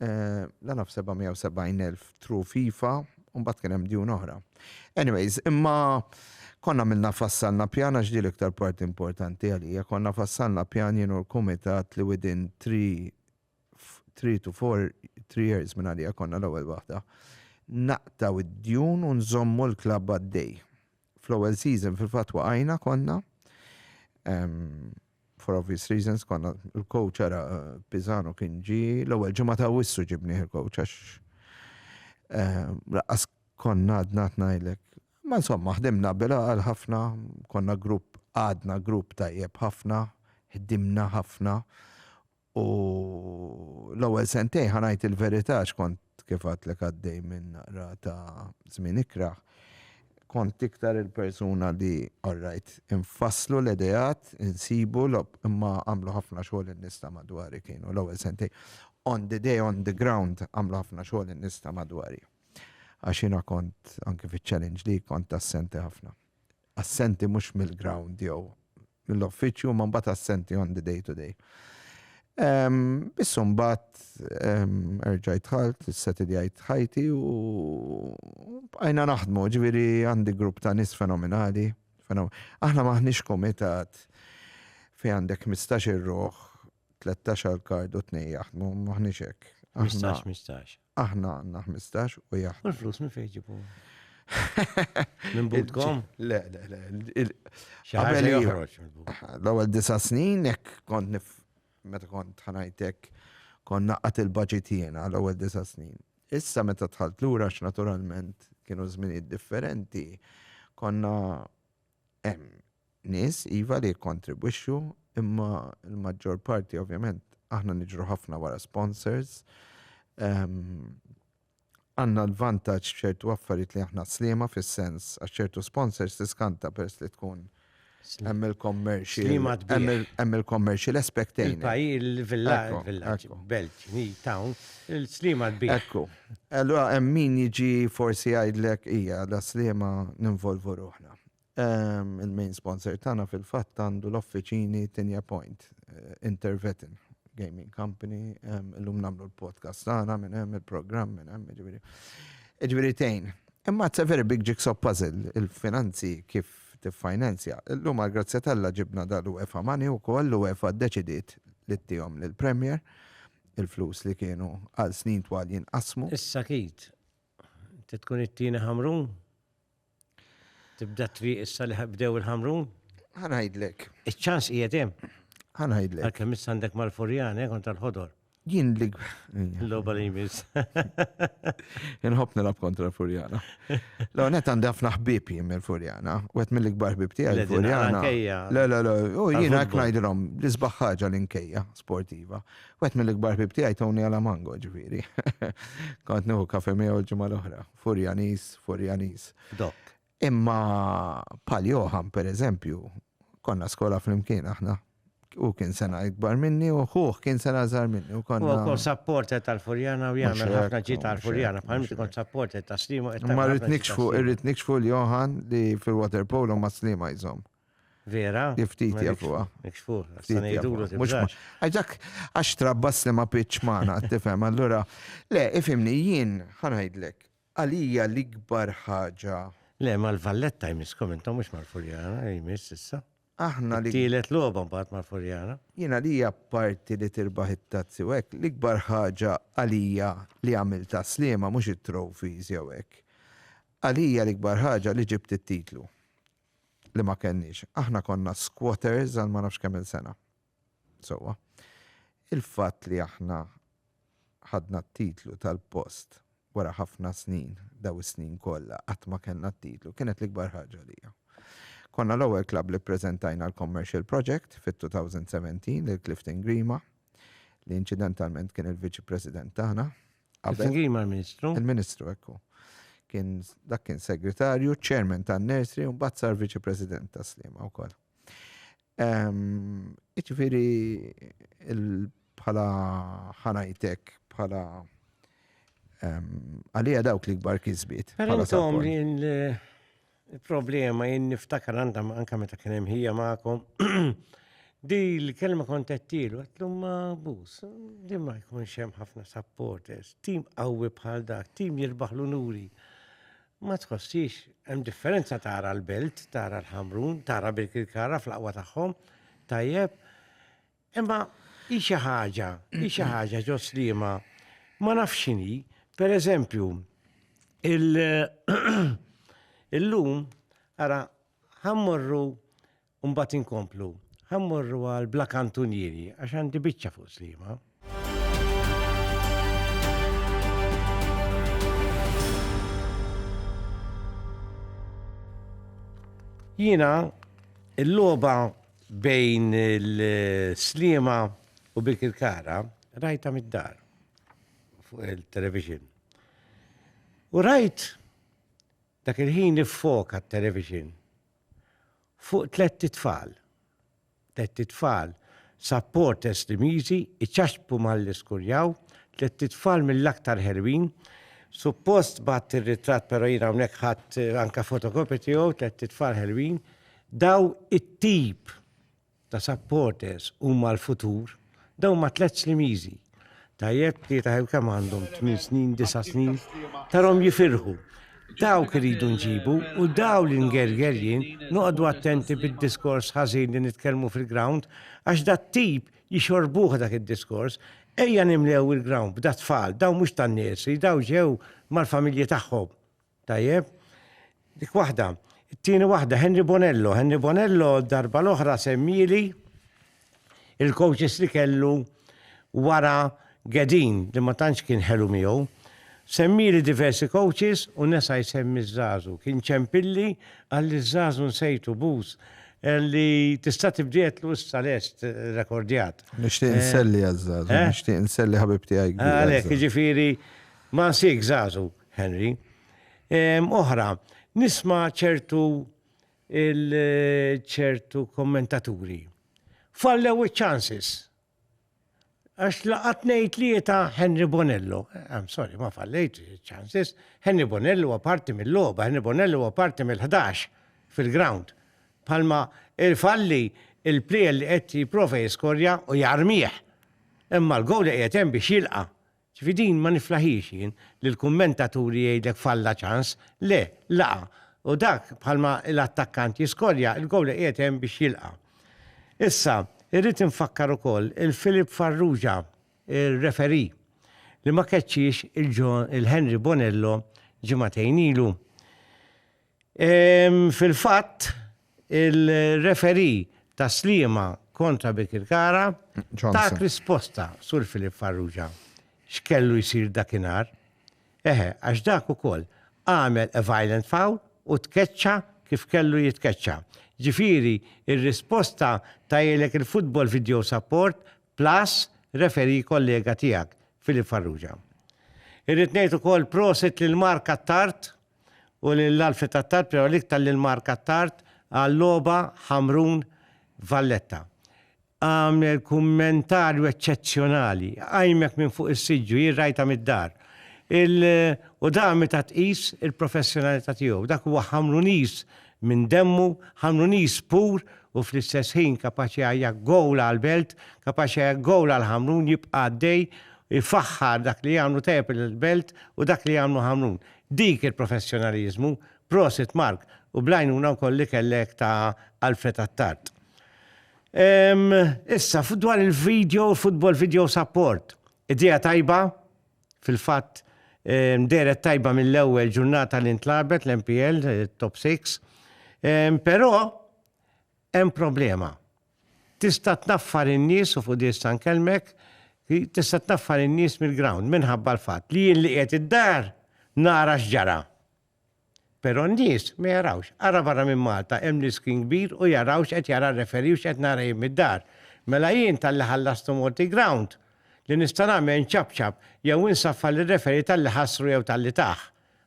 la naf 770,000 through FIFA, u mbagħad kien hemm djun oħra. Anyways, imma konna għamilna fassalna pjan, għax din l-iktar parti importanti għalija, konna fassalna pjan jien u l-kumitat li within three three to four three years minn għalija konna l-ewwel waħda. Naqtaw id-djun u nżommu l-klabb għaddej. Fl-ewwel season fil-fatt waqajna konna. Um, for obvious reasons konna l-coach ara eh, Pizano kien ġi l-ewwel ġimgħa ta' wissu ġibni il-coach għax eh, laqas konna għadna tnajlek. Ma insomma ħdimna bila għal ħafna, konna grupp għadna grupp tajjeb ħafna, ħdimna ħafna U l-ewwel sentejn ħa ngħid il-verità għax kont kif għadtlek għaddej minn naqra ta' żmien ikrah. Kont iktar il-persuna li orrajt infasslu l-ideat, insibu lob imma għamlu ħafna xogħol in-nies ta' madwari kienu l-ewwel sentejn. On the day, on the ground għamlu ħafna xogħol in-nies ta' madwari. Għax jiena kont anke fiċ-challenge li kont assenti ħafna. assenti mhux mill-ground jew mill-uffiċċju imma mbagħad assenti on the day to day. Bissu mbagħad erġajt ħalt, setidjajt ħajti u bqajna naħdmu, ġifieri għandi grupp ta' nies fenomenali. Aħna maħniex komitat fi għandek 15 ruħ, 13 għal kard u 2 jaħdmu, maħniex hekk. 15-15. Aħna għandna 15 u jaħt. U l-flus minn fejn ġibu? Minn budkom? Le, le, le. Xaħġa joħroġ. L-ewwel disa' snin hekk kont nif meta kont ħanajtek kon naqqat il-budget jiena l-ewwel disa' snin. Issa meta tħalt lura naturalment kienu żminijiet differenti konna hemm Nies, iva, li jikkontribwixxu, imma l-maġġor parti ovvjament aħna niġru ħafna wara sponsors. Għandna l-vantaġġ f'ċertu affarijiet li aħna sliema fis-sens għax ċertu sponsors tiskanta peress li tkun hemm il-commercial. Hemm il-commercial aspect in. Il-villaġġ, belt, town, il-sliema kbira. Ekku. Allura hemm min jiġi forsi jgħidlek, ija, la sliema ninvolvu ruħna. Il-main sponsor tagħna fil-fatt għandu l-offiċini Tinja Point, Intervetin Gaming Company, illum nagħmlu l-podcast tagħna minn hemm il-programm minn hemm, jiġifieri. Jiġifieri tgħin. Imma it's a very big jigsaw puzzle il-finanzi kif tiffinanzja. Illum għall-grazzja t'Alla ġibna dal-UEFA money wkoll, l-UEFA ddeċidiet li ttihom lill-Premier, il-flus li kienu għal snin twal jinqasmu. Issa Keith, inti tkun it-tieni Ħamrun? Tibda triq issa li bdew il-ħamrun? Ħanajdlek. Iċ-ċans qiegħed hemm. Ħanajdlek. Għalkemm issa għandek mal-furjan, eh, kont tal-ħodor. Jien li. L-loba li jmiss. Inħobb nilab kontra l-Furjana. Lo, net għandi ħafna ħbib jien mill-Furjana. Wet mill-ikbar ħbib tiegħi l-Furjana. Le, le, le, u jien hekk ngħidilhom l-isbaħ ħaġa l-inkejja sportiva. Wet mill-ikbar ħbib tiegħi Tony Alamango ġifieri. Kont nieħu kafe miegħu l-ġimgħa l-oħra. Furjaniż, Furjaniż. Dok. Imma pal Johan, per eżempju, konna skola fl-imkien aħna. U kien sena ikbar minni u ħuħ kien sena żar minni. U konna. U kont sapporter tal-Furjana u jgħamil ħafna ġi tal-Furjana. Bħalmi kont sapporter ta' Slima. Ma rrit nikxfu, irrit nikxfu l-Johan li fil-waterpolo ma' Slima jżom. Vera? Ftit jafuha. Ftit jafuha. Mhux ma. Għax dak għax trabbas li ma pitx magħna, tifhem, allura. Le, ifhimni, jien ħa ngħidlek, għalija l-ikbar ħaġa. Le, mal-Valletta jmisskom intom mhux mal-Furjana, jmiss issa. Aħna li. Tielet logħba mbagħad mal-Furjana. Jien għalija parti li tirbaħ it-tazzi u hekk, l-ikbar ħaġa għalija li għamil ta' slima mhux it-trophies jew hekk. Għalija l-ikbar ħaġa li ġibt it-titlu. li ma kellniex. Aħna konna squatters għal ma nafx kemm-il sena. Sewwa. Il-fatt li aħna ħadna t-titlu tal-post wara ħafna snin, dawn is-snin kollha qatt ma kellna t-titlu, kienet l-ikbar ħaġa għalija. Konna l-ewwel klabb li ppreżentajna l-Commercial Project fit-2017 lil Clifton Grima, li inċidentalment kien il-Viċi President tagħna, Singil ma' ministru Il-ministru, ekku. Kien, dak kien segretarju, chairman ta' nursery, un bat sar viċi president ta' slima u koll. Iċifiri, bħala ħanajtek, bħala għalija dawk li gbar kizbit. Għalintom li Il-problema jien niftakar għandha ma- anka meta kien hemm ħija magħkom. Di l-kelma kont qed tielu, għetlu ma bus, di ma jkunx hemm ħafna supporters, tim qawwi bħal dak, tim jirbaħ l-unuri. Ma tħossix, hemm differenza tara l-belt, tara l-ħamrun, tara bil-kirkara fl-aqwa tagħhom, tajjeb, Imma hi xi ħaġa, hi xi ħaġa ġo Sliema ma nafx x'inhi, pereżempju, illum ara ħammorru mbagħad inkomplu, ħammorru għal Bla Kantunieri għax għandi biċċa fuq Sliema. Jiena il-logħba bejn il-Sliema u Birkirkara rajta mid-dar fuq il-television. U rajt dak il-ħin iffoka t-television fuq tlet tfal. Tlet tfal supporters Limiżi iċaxbu mal-iskurjaw, tlet tfal mill-aktar ħelwin. Suppost bat ir-ritratt però jiena hawnhekk ħadd anke fotokopja tiegħu tlet tfal ħelwin. Daw it-tip ta' supporters huma l-futur, daw ma tliet slimiżi. Tajjeb li taħew kemm għandhom 8 snin, 9 snin, tarom jifirħu. Dawk iridu nġibu u daw li ngerger jien noqogħdu attenti bid-diskors ħażin li nitkellmu fil-ground għax dat tip jixorbuh dak id-diskors Ejja nimlew il-ground b'da tfal, daw mhux tan-nursery, daw ġew mal-familji tagħhom. Tajjeb. Dik waħda. It-tieni waħda, Henry Bonello. Henry Bonello darba l-oħra semmieli il-coaches li kellu wara Gedin li ma tantx kien ħelu miegħu. Semmieli diversi coaches u nesa jsemmi żazu. Kien ċempilli għalli żazu nsejtu bus eh, li tista' tibdiet l issa lest eh, rekordjat. Nixtieq eh, nselli għaż-żazu, nixtieq nselli ħabib tiegħi. Għalhekk jiġifieri ma nsik żazu. Henry. Ehm, oħra, nisma' ċertu il-ċertu kommentaturi. Fallew iċ-chances. Għax laqat ngħid li ta' Henry Bonello. I'm sorry, ma fallejt chances. Henry Bonello huwa parti mill-logħba, Henry Bonello huwa parti mill-11 fil-ground. Palma il-falli il-plejel li qed jipprova jiskorja u jarmih. Imma l-gowl li qiegħed hemm biex jilqa' Ġifieri din ma niflaħhiex jien, li l-kummentaturi jgħidlek falla ċans, le, laqa', u dak bħalma l-attakkant jiskorja, il-goalie qiegħed hemm biex jilqa'. Issa, irrid infakkar ukoll il-Philip Farrugia, ir-referee, li ma keċċiex il-Henry Bonello ġimagħtejn ilu. Fil-fatt, il-referee ta' Sliema kontra Birkirkara tat risposta, Sur Philip Farrugia, x'kellu jsir dakinhar. Eħe, għax dak ukoll għamel a violent foul u tkeċċa kif kellu jitkeċċa. Ġifieri, ir-risposta tgħajjlek il-Football Video Support plus referee kollega tiegħek, Philip Farrugia. Irrid ngħid ukoll prosit lil Mark Attard u lil Alfred Attard, Priory League, ta' lil Mark Attard għal-logħba Ħamrun Valletta. Għamel kummentarju eċċezzjonali, qajmek minn fuq is-siġġu, jien rajtha mid-dar. Il, u dan meta tqis il-professjonalità tiegħu. Dak huwa Ħamruniż minn demmu, Ħamruniż pur u fl-istess ħin kapaċi jgħajja gowl għall-belt, kapaċi jgħajja gowl għal Ħamrun, jibqa' għaddej, ifaħħar dak li jagħmlu tajjeb il-belt u dak li jagħmlu Ħamrun. Dik il-professjonaliżmu, prosit Mark, u bl-għajnuna wkoll li kellek ta' Alfred Attard. Ehm, issa, dwar il-video, football video support, idea tajba, fil-fatt, ehm, deret tajba mill-ewwel ġurnata li ntlabet l-MPL, eh, top 6, ehm, però hemm problema. Tista' tnaffar in-nies, u fuq di issa nkellmek, tista' tnaffar in-nies mill-ground minħabba l-fatt li jien li qiegħed id-dar nara x'ġara. Però n-nies ma jarawx. Ara barra minn Malta hemm l-iskrin kbir u jaraw x'qed jara r-referee u x'qed nara jien mid-dar. Mela jien talli ħallastu mort il-ground, li nista' nagħmel nċapċap jew insaffar lir-referee talli ħassru jew talli tah.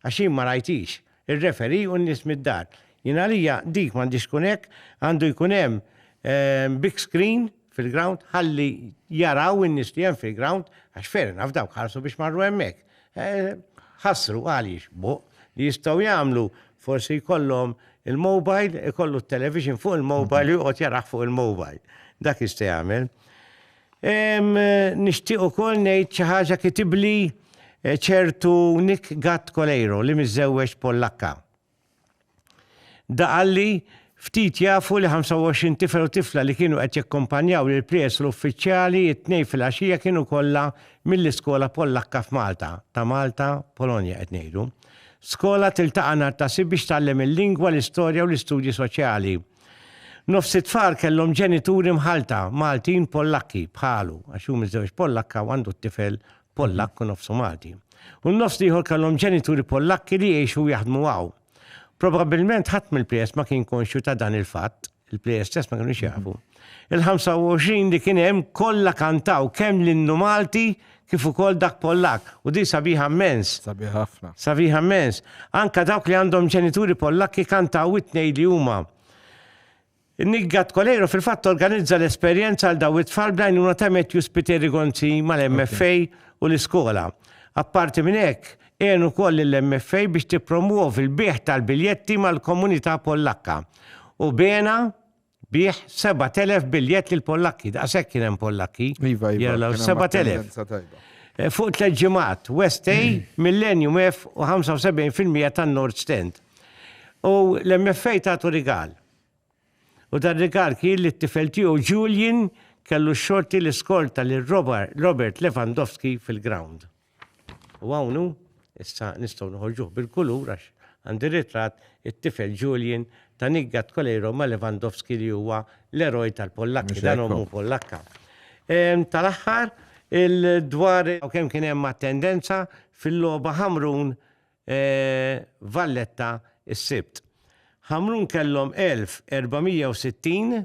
Għax jien ma rajthiex. Ir-referee u n-nies mid-dar. Jien għalija dik m'għandhiex tkun hekk, għandu jkun hemm big screen fil-ground ħalli jaraw in-nies li hemm fil-ground għax fair enough dawk ħarsu biex marru hemmhekk. Ħassru għaliex buh li jistgħu jagħmlu forsi jkollhom il-mobile ikollu t-television fuq il-mobile u joqgħod jarah fuq il-mobile. Dak jista' jagħmel. Nixtieq ukoll ngħid xi ħaġa kitibli ċertu Nick Gatt Coleiro li miżżewweġ Pollakka. Da qalli, Ftit jafu li 25 tifel u tifla li kienu qed jakkumpanjaw lill-prijest u l-uffiċjali t-Tnejn filgħaxija kienu kollha mill-iskola Pollakka f'Malta, ta' Malta, Polonja qed ngħidu. Skola tiltaqa' nhar ta' Sibt biex tgħallem il-lingwa, l-istorja u l-istudji soċjali. Nofs it-tfal kellhom ġenituri mħallta, Maltin Pollakki, bħalu, għax hu miżżewġ Pollakka u għandu t-tifel Pollakk u nofsu Malti. U n-nofs l-ieħor kellhom ġenituri Pollakki li jgħixu u jaħdmu hawn. Probabbilment ħadd mill-plejers ma kien konxju ta' dan il-fatt, il-plejers stess ma kinux jafu. Il-25 li kien hemm kollha kantaw kemm l-innu Malti kif ukoll dak Pollakk, u din sabiħa mmens. Sabiħa ħafna. Sabiħa mmens. Anka dawk li għandhom ġenituri Pollakki kantaw it-tnej li huma. Niggat Kolejro fil-fatt organizza l-esperjenza għal daw it-tfal bl-għajnuna ta' Matthew Spiteri Gonzi mal-MFA u l-iskola. Apparti minn hekk, għenu wkoll lill-MFA biex tippromwovi l-bigħ tal-biljetti mal-komunità Pollakka. U bena Bih 7,000 biljett lil Pollakki, daqshekk kien hemm Pollakki. Iva, iva. Jalla, 7,000. Eh, fuq tliet ġimgħat, West A, Millennium F u 75% tan-Nord Stand. U l-MFA tagħtu rigal. U dan rigal kien li t-tifel tiegħu Julian kellu xorti l-iskorta lil Robert Lewandowski fil-ground. U hawn hu, issa nistgħu noħorġuh bil-kulur għax għandi ritratt, it-tifel Julian ta' Nigga Tkoleiro ma' Lewandowski li huwa l-eroj tal-Pollakki, dan ommu Pollakka. Tal-aħħar, dwar kemm kien hemm attendenza fil-logħba Ħamrun Valletta s-Sibt. Ħamrun kellhom 1,460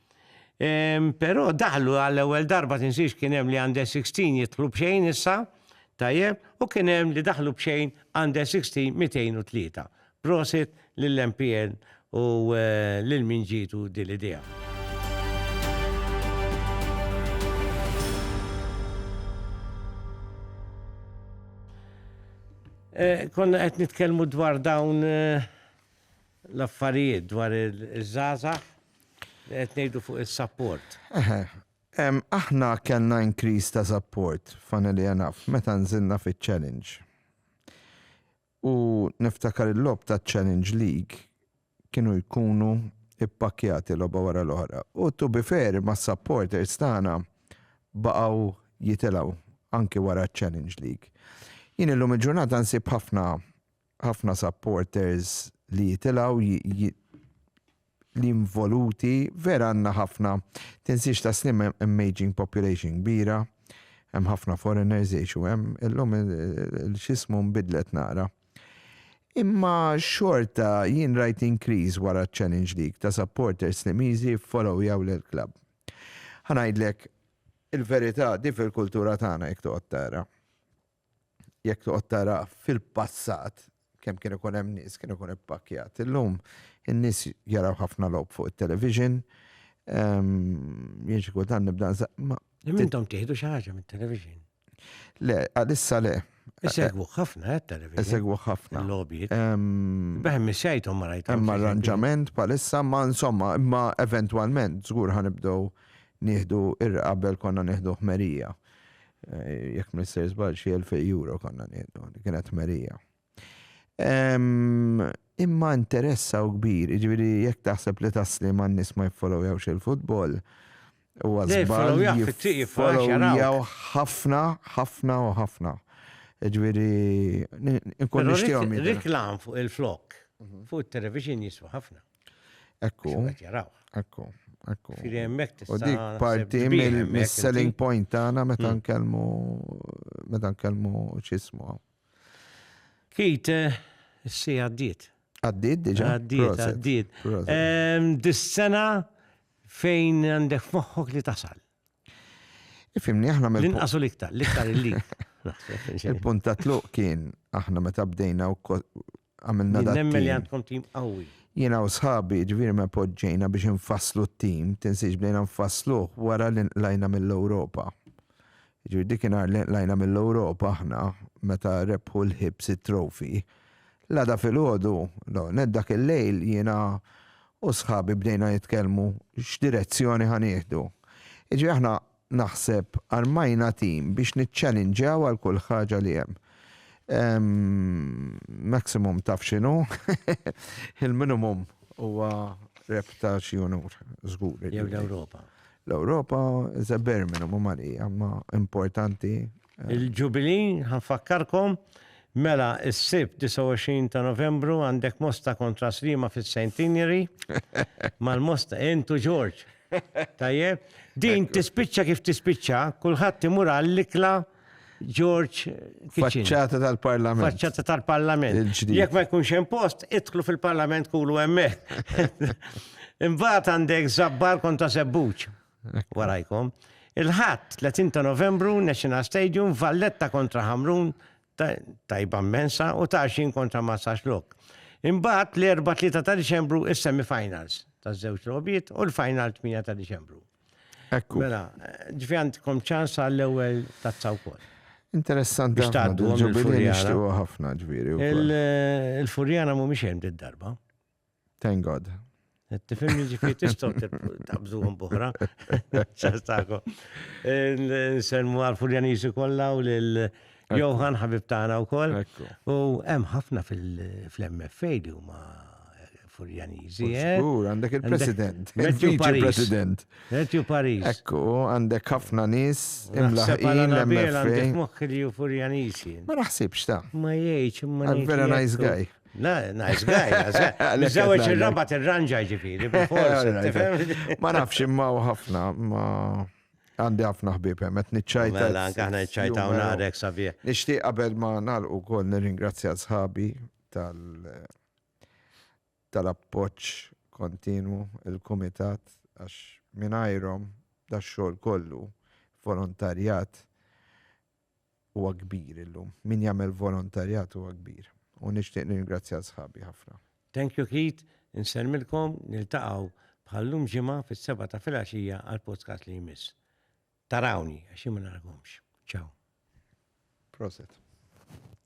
Ehm, però daħlu għall-ewwel darba tinsiex kien hemm li għandha 16 jidħlu b'xejn issa, tajjeb, u kien hemm li daħlu b'xejn għandha 16 203. Prosit lill-MPN u eh, lil min ġitu dil-idea. Eh, konna qed nitkellmu dwar dawn eh, l-affarijiet dwar il-żgħażagħ Qed ngħidu fuq is-support. Eħe, aħna kellna increase ta' support funnily enough meta nżilna fiċ-challenge. U niftakar il-logħob taċ-Challenge League kienu jkunu ippakkjati logħba wara l-oħra. U to be fair mas-supporters tagħna baqgħu jitilgħu anki wara ċ-Challenge League. Jien illum il-ġurnata nsib ħafna ħafna supporters li jitilgħu li involuti, vera għandna ħafna, tinsiex ta' slim hemm aging population kbira, hemm ħafna foreigners jgħixu hemm, illum l-xismu nbidlet naqra. Imma xorta jien rajt increase wara ċ-Challenge League ta' supporters Slimiżi jfolowjaw lill-klabb. Ħa ngħidlek il-verità, di fil-kultura tagħna jekk toqgħod tara. jekk toqgħod tara fil-passat kemm kien ikun hemm nies kien ikun ippakkjat. Illum in-nies jaraw ħafna logħob fuq it-television. Ehm, jien xi kultant nibda ma. Mintom tieħdu xi ħaġa mit-television. Le, għalissa le. Isegwu ħafna eh, television. Isegwu ħafna. Lobby. Ehm, Beħem missajtom ma rajt. Hemm arranġament palissa ma insomma, imma eventwalment żgur ħanibdew nieħdu ir-qabel konna nieħdu ħmerija. Jekk ma nisser żball xi 2000 euro konna nieħdu, kienet merija. Imma interessa u kbir, jiġifieri jekk taħseb li tasli ma' nies ma jiffolowjawx il-futbol, huwa żball jiffolowjaw ħafna, ħafna u ħafna. Jiġifieri nkun nixtieqhom. Riklam fuq il-flok, fuq it-television jiswa ħafna. Ekku. Xummet jaraw. Ekku. Ekku. Firi emmek tista. U dik parti mill-selling point tagħna meta hmm. nkellmu meta nkellmu ċismu. Kit, eh, si għaddiet. Għaddiet diġa. Għaddiet, għaddiet. Dis-sena fejn għandek moħħok li tasal. Fimni aħna mill L-inqas u l-iktar, l-iktar illi. Il-punt ta' tluq kien aħna meta bdejna u għamilna da. Nemmen li għandkom tim qawwi. Jiena u sħabi ġviri ma poġġejna biex nfasslu t-tim, tinsiex bdejna nfassluh wara li nqlajna mill-Ewropa. Ġviri dik inhar li nqlajna mill-Ewropa aħna meta rebħu l-ħibs it-trofi. Lada fil-ħodu, dak il-lejl jiena u sħabi bdejna nitkellmu x'direzzjoni ħa nieħdu. Jiġifieri aħna naħseb armajna tim biex niċċalinġjaw għal kull ħaġa li hemm. Maximum taf x'inhu, il-minimum huwa rep ta' xi unur, żgur. Jew l-Ewropa. L-Ewropa is a bare minimum għalija, ma importanti Il-Ġubili, ħa nfakkarkom, mela s-Sibt 29 ta' Novembru għandek Mosta kontra Sliema fis-Centenary. Mal-Mosta, intu Ġorġ. Tajjeb, din tispiċċa kif tispiċċa, kulħadd imur għall-ikla Ġorġ Kitchen. Faċċata tal-Parlament. Faċċata tal-Parlament. Jekk ma jkunx hemm post, idħlu fil-Parlament kulu hemmhekk. Imbagħad għandek żabbar kontra sebbuċ. warajkom. Il-ħadd 30 ta' Novembru National Stadium Valletta kontra Ħamrun tajba mensa u ta' 20 kontra Massax Lok. Imbagħad l-erba' 3 ta' Diċembru is-semifinals ta' żewġ lobiet u l-final 8 ta' Diċembru. Ekku. Mela, ġifi għandkom ċans għall-ewwel tazza wkoll. Interessanti. Biex tgħaddu il-Furjana. ħafna ġviri. Il-Furjana mhumiex hemm darba Thank God. Tifim ġifiri tistaw tabżuħum buħra. ċastako. Nselmu għal-Furjanisu kolla u l- Johan ħabib tagħna wkoll. U hemm ħafna fil-MFA li huma eh, Furjaniżi. Eh? Żgur, għandek il-President. Matthew President. Matthew Paris. Ekku, għandek ħafna nies imlaħqin l-MFA. Għandek moħħi li Furjaniżi. Ma naħsibx ta. Ma jgħidx, ma. Vera nice guy. Nice guy, nice guy. Mizzawġ il-rabat il-ranġa ġifiri, Ma nafx imma u ħafna, ma għandi ħafna ħbib hemm qed niċċajta. Mela, aħna niċċajta u narek sabiħ. Nixtieq qabel ma nagħlqu wkoll nirringrazzja sħabi tal tal-appoġġ kontinwu il-kumitat għax mingħajrhom dax-xogħol kollu volontarjat huwa kbir illum. Min jagħmel volontarjat huwa kbir. U nixtieq nirringrazzja sħabi ħafna. Thank you Keith, insellmilkom, niltaqgħu bħal llum Ġimgħa fis-sebgħa ta' filgħaxija għall-podcast li jmiss. Tarawni għax jien ma narakomx. Ciao. Proset.